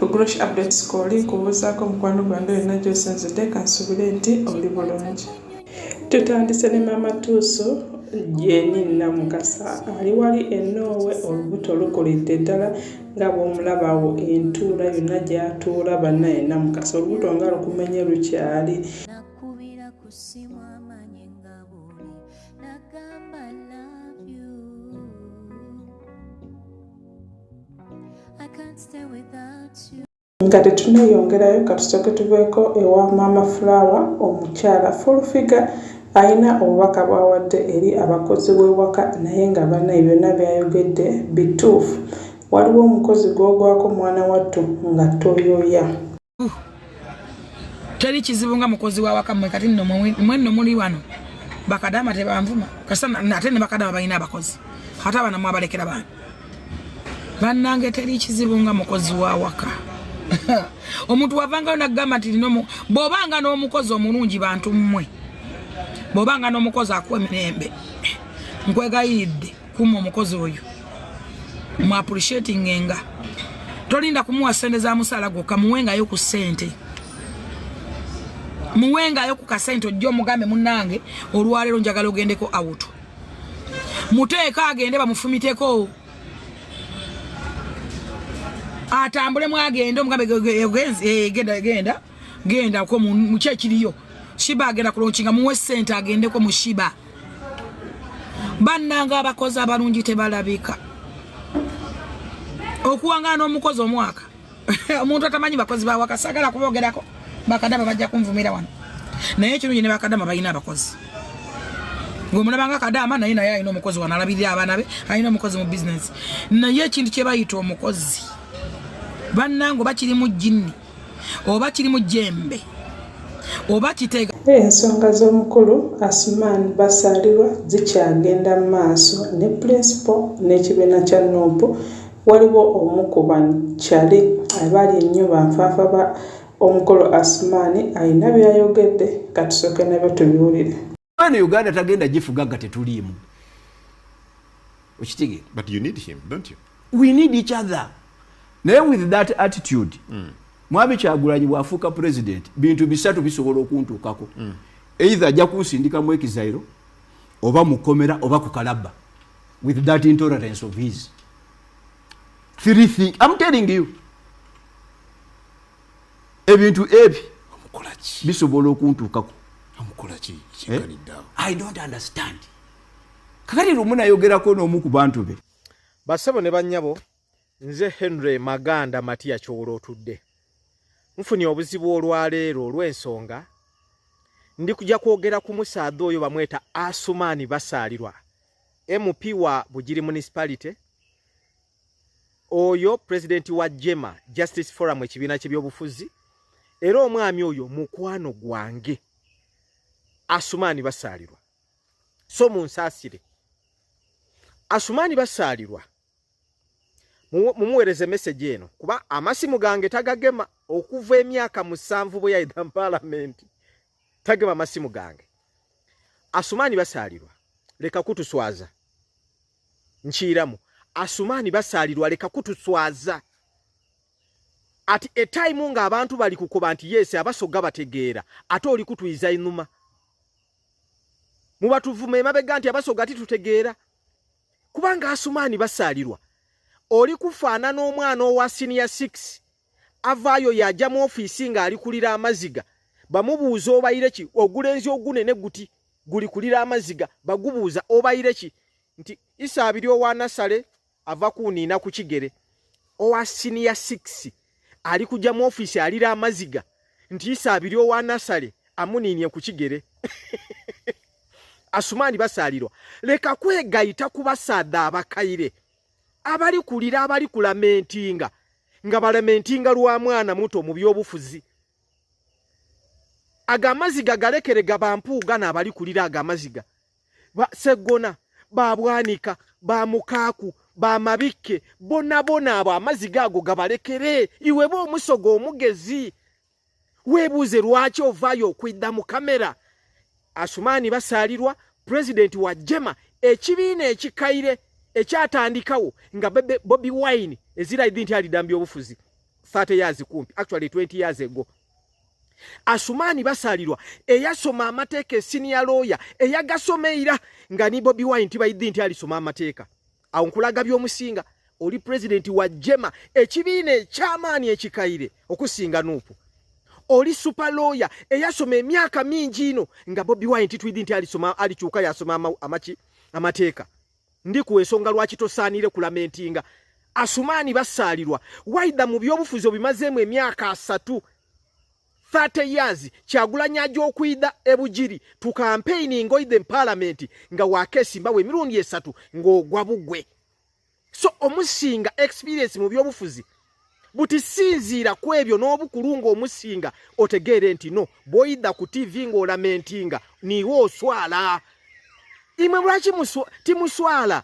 Ugrosh updates koli nkubuuzaako mukwano gwange yonna gyosinzidde kansubire nti oli bulungi tutandise ne maama tuuso jeni namukasa ali wali enoowe olubuto lukulidde ddala nga bwomulabawo entuula yonna gyatuula banaye namukasa olubuto nga lukumenye lukyali nga tetuneyongerayo katusoke tuveeko ewa maama fulawa omukyala fulfiga alina obubaka bwawadde eri abakozi b'ewaka naye nga banaye byonna byayogedde bituufu waliwo omukozi gwogwako mwana wattu nga toyoya teri kizibu nga mukozi wawaka mwe kati nno mwenno muli wano bakadama tebanvuma kasa ate ne bakadama balina abakozi ate abana mwabalekera bana bannange teri kizibu nga mukozi wawaka omuntu wavangayo nagamba nti lino bwobanga n'omukozi omulungi bantu mmwe bwobanga n'omukozi akuwa emirembe nkwegayiridde kuma omukozi oyo mu appreciating nga tolinda kumuwa sente za musala gwo kamuwengayo ku sente muwengayo ku kasente ojjo mugambe munange olwalero njagala ogendeko out muteeka agende bamufumiteko atambule mwagende omugambe eh, genda genda genda ko mu kyekiriyo shiba agenda kulonkinga muwe sente agendeko mu shiba bannanga abakozi abalungi tebalabika okuwangana omukozi omwaka omuntu atamanyi bakozi bawaka sagala kubogerako bakadama bajja kunvumira wano naye ekirungi ne bakadama balina abakozi gwemunabanga kadama naye naye alina omukozi wano alabirira abaana be alina omukozi mu bizinesi naye ekintu kyebayita omukozi bannange bakiri mu jinni oba kiri mu jembe oba kitega ensonga z'omukulu asuman basaalirwa zikyagenda mu maaso ne pulinsipo n'ekibiina kya nup waliwo omu ku bakyali abaali ennyo banfaafa ba omukulu asumaani alina byayogedde katusooke nabyo tubiwulire eno uganda tagenda gifuga nga tetuliimu okitegeera but you need him don't you we need each other naye with that attitude mm. mwami kyagulanyi bwafuuka president bintu bisatu bisobola okuntuukako mm. either ajja kunsindika mu ekizairo oba mukomera oba ku kalabba with that intolerance of his three thing i'm telling you ebintu ebi bisobola okuntuukako eh? kakati lumu nayogerako n'omu ku bantu be basebo ne bannyabo nze henry maganda matiya kyowola otudde nfunye obuzibu olwaleero olw'ensonga ndi kujja kwogera ku musaadha oyo bamweta asumaani basaalirwa mp wa bugiri municipality oyo president wa jema justice forum ekibiina kyebyobufuzi era omwami oyo mukwano gwange asumaani basaalirwa so munsaasire asumaani basaalirwa mumuweereze meseji eno kuba amasimu gange tagagema okuva emyaka musanvu bwe yayida mu palamenti tagema amasimu gange asumaani basaalirwa leka kutuswaza nkiiramu asumaani basaalirwa leka kutuswaza ati etayimu ng'abantu bali kukoba nti yeesi abasoga bategeera ate oli kutuyiza inuma mubatuvuma emabega nti abasoga titutegeera kubanga asumaani basaalirwa oli kufaanana omwana owa siniya 6 avaayo yajja mu ofiisi ng'alikulira amaziga bamubuuza obayire ki ogulenzi ogunene guti gulikulira amaziga bagubuuza obayire ki nti isa abiri owa nasale ava kuniina ku kigere owa siniya six ali kujja mu ofiisi alira amaziga nti isa abiri owa nasale amuniinie ku kigere asumaani basaalirwa leka kwegayita kubasaadha abakaire abali kulira abali kulamentinga nga balamentinga lwa mwana muto mu byobufuzi ago amaziga galekere gabampuuga naabali kulira ago amaziga seggona babwanika bamukaaku bamabikke bonabona abo amaziga ago gabalekere iweba omusoga omugezi webuuze lwaki ovaayo okwidda mu kamera asumaani basaalirwa pulezidenti wa jema ekibiina ekikaire ekyatandikawo nga bobi wine eziraidhi nti alidambya obufuzi 30 years kumpi actually 20 years ago asumaani basaalirwa eyasoma amateeka esiniya looya eyagasoma eira nga ni bobi wine tibaidhi nti alisoma amateeka awo nkulaga byomusinga oli pulezidenti wa jema ekibiina ekyamaani ekikaire okusinga nuupu oli super lawyer eyasoma emyaka mingi ino nga bobi wine titwidi nti alisoma alikyuka yasoma amaki amateeka ndi ku ensonga lwaki tosaanire kulamentinga asumaani basaalirwa waida mu byobufuzi obimazeemu emyaka asatu 30 years kyagulanyi aja okuida ebujiri tu kampeyini ngoide mupalamenti nga wakesimbawo emirundi esatu ng'ogwa bugwe so omusinga experience mu byobufuzi buti sinziira ku ebyo n'obukulu ng'omusinga otegeere nti no bwoida ku tivi ng'olamentinga niwe oswala imwe lwaki timuswala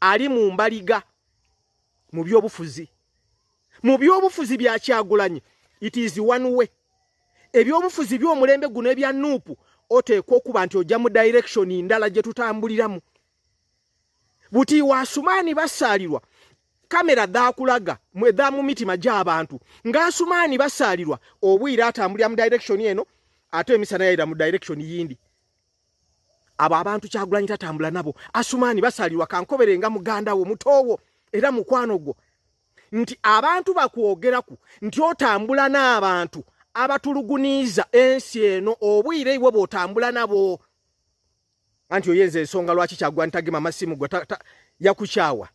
ali mu mbaliga mu byobufuzi mu byobufuzi bya kyagulanyi it is one way ebyobufuzi by'omulembe guno ebya nuupu oteekwa okuba nti ojja mu direction ndala gye tutambuliramu buti wasumaani basaalirwa kamera dhakulaga mwedha mu mitima gy'abantu ng'asumaani basaalirwa obwire atambulira mu direction eno ate emisana yayira mu direction yindi abo abantu kyagulanyi tatambula nabo asumani basalirwa kankobere nga muganda wo mutowo era mukwano gwo nti abantu bakwogeraku nti otambula n'abantu abatuluguniiza ensi eno obwire iwe bwotambula nabo anti oyenza ensonga lwaki kyagwa ntagema masimu gwe yakukyawa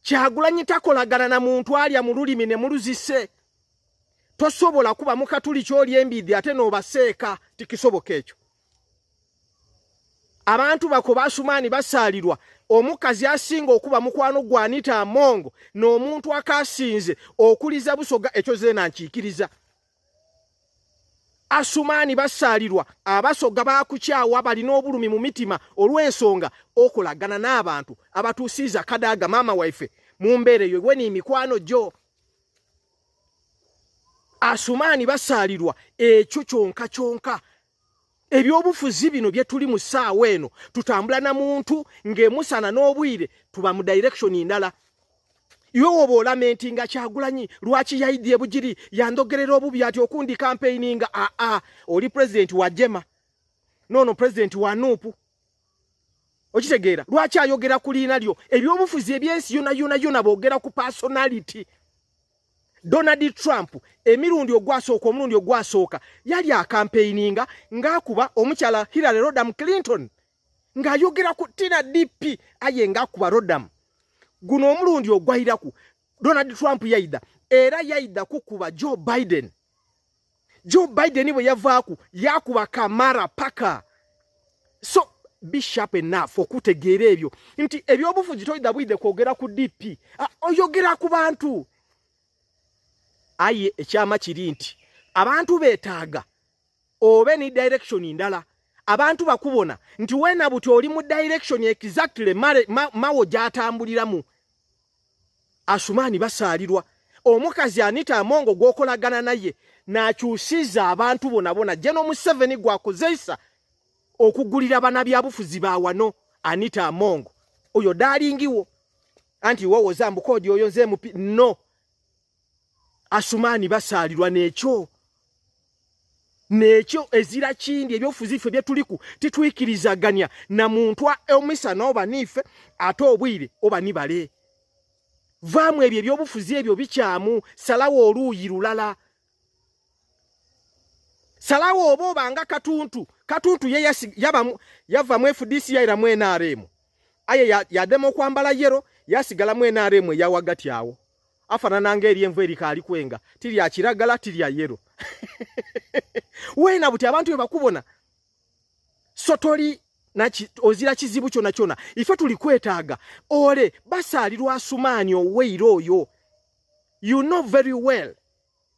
kyagulanyi takolagana na muntu alya mu lulimi ne muluzise tosobola kuba mukatuli kyoli embidhi ate nobaseeka tikisoboka ekyo abantu bako basumaani basaalirwa omukazi asinga okuba mukwano gwanita amongo n'omuntu akasinze okuliza busoga ekyo zeena nkiikiriza asumaani basaalirwa abasoga baakukyawa balina obulumi mu mitima olw'ensonga okolagana n'abantu abatuusiiza kadaaga maama waife mu mbeera eyo weni mikwano gyo asumaani basaalirwa ekyo kyonka kyonka ebyobufuzi bino byetuli mu ssaawa eno tutambula na muntu ng'emusana n'obwire tuba mu direction ndala iwe woba olamenti nga kyagulanyi lwaki yaidye bugiri yandogerera obubi ati okundi kampeyini nga aa ah, ah, oli pulezidenti wa jema nono pulezidenti wa nuupu okitegeera lwaki ayogera ku liina lyo ebyobufuzi ebyensi yona yona yona boogera ku personality Donald Trump emirundi ogwasooka omulundi ogwasooka yali akampeininga ng'akuba omukyala Hillary Rodham Clinton ng'ayogera ku Tina DP aye ng'akuba Rodham. Guno omulundi ogwairaku Donald Trump yaida era yaida kukuba Joe Biden. Joe Biden bwe yavaaku yakuba kamara paka so be sharp enough okutegeera ebyo nti ebyobufuzi toyida bwidde kwogera ku DP ah, oyogera ku bantu aye ekyama kiri nti abantu betaaga obe ni direction ndala abantu bakubona nti wena buti oli mu direction exactly mawo gyatambuliramu Asumani basaalirwa omukazi Anita Amongo gwokolagana naye nakyusiza abantu bona bona jeno Museveni gwakozeisa okugulira bana byabufuzi ba wano Anita Amongo oyo dalingiwo anti wowoza mbukoodi oyo nze mupi no asumaani basaalirwa nekyo nekyo ezira kindi ebyofuzi ffe byetuliku titwikirizaganya na muntu omisa nooba niife ate obwire oba nibale vaamu ebyo ebyobufuzi ebyo bikyamu salawo oluuyi lulala salawo oba obanga katuntu katuntu ye yava mu fdc yaira mu nrm aye yadema okwambala yero yasigala mu nrm eyawagati awo afanana nga eri envu erikaali kwenga tirya kiragala tirya yero wena buti abantu bebakubona so toli naki ozira kizibu kyona kyona ife tuli kwetaaga ole basaalirwa asumaani oweyira oyo you know very well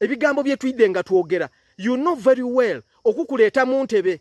ebigambo byetuyidde nga twogera you know very well okukuleeta mu ntebe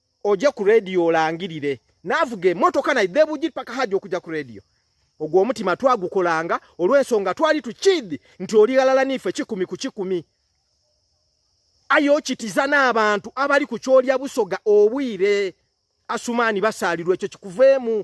oje ku radio olangirire navuga emotoka naye debujiri paka haji okuja ku radio ogwo omutima twagukolanga olw'ensonga twali tukidi nti oli ghalala niife kikumi ku kikumi aye okitiza n'abantu abali ku kyolya busoga obwire asumaani basaalirwa ekyo kikuveemu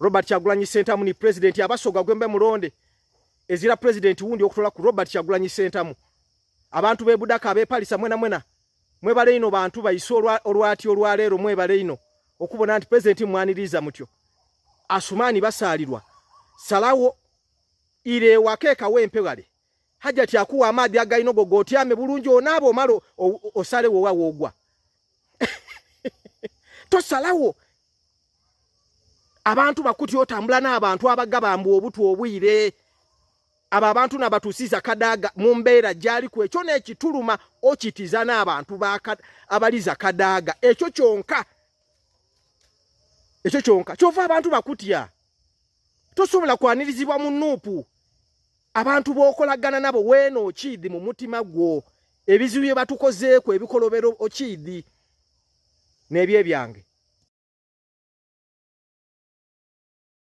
Robert Kyagulanyi Sentamu ni president abasoga gwembe mulonde ezira president wundi okutola ku Robert Kyagulanyi Sentamu abantu be budaka be palisa mwena mwena mwe bale ino bantu bayisolwa olwati olwalero mwe bale ino okubona anti president mwaniriza mutyo asumani basalirwa salawo ile wakeka wempe wale hajati akuwa amaadhi agalina ogo gotyame bulungi onaaba omala osalewo owa woogwa tosalawo abantu bakuti otambula n'abantu abagabamba obutu obwire abo abantu nabatusiza kadaaga mu mbeera gyali ku ekyo n'ekituluma okitiza n'abantu abaliza kadaaga ekyo kyonka ekyo kyonka kyova abantu bakutya tosobola kwanirizibwa mu nuupu abantu bokolagana nabo weno okiidi mu mutima gwo ebizibu bye batukozeeko ebikolobero okiidi n'ebyo ebyange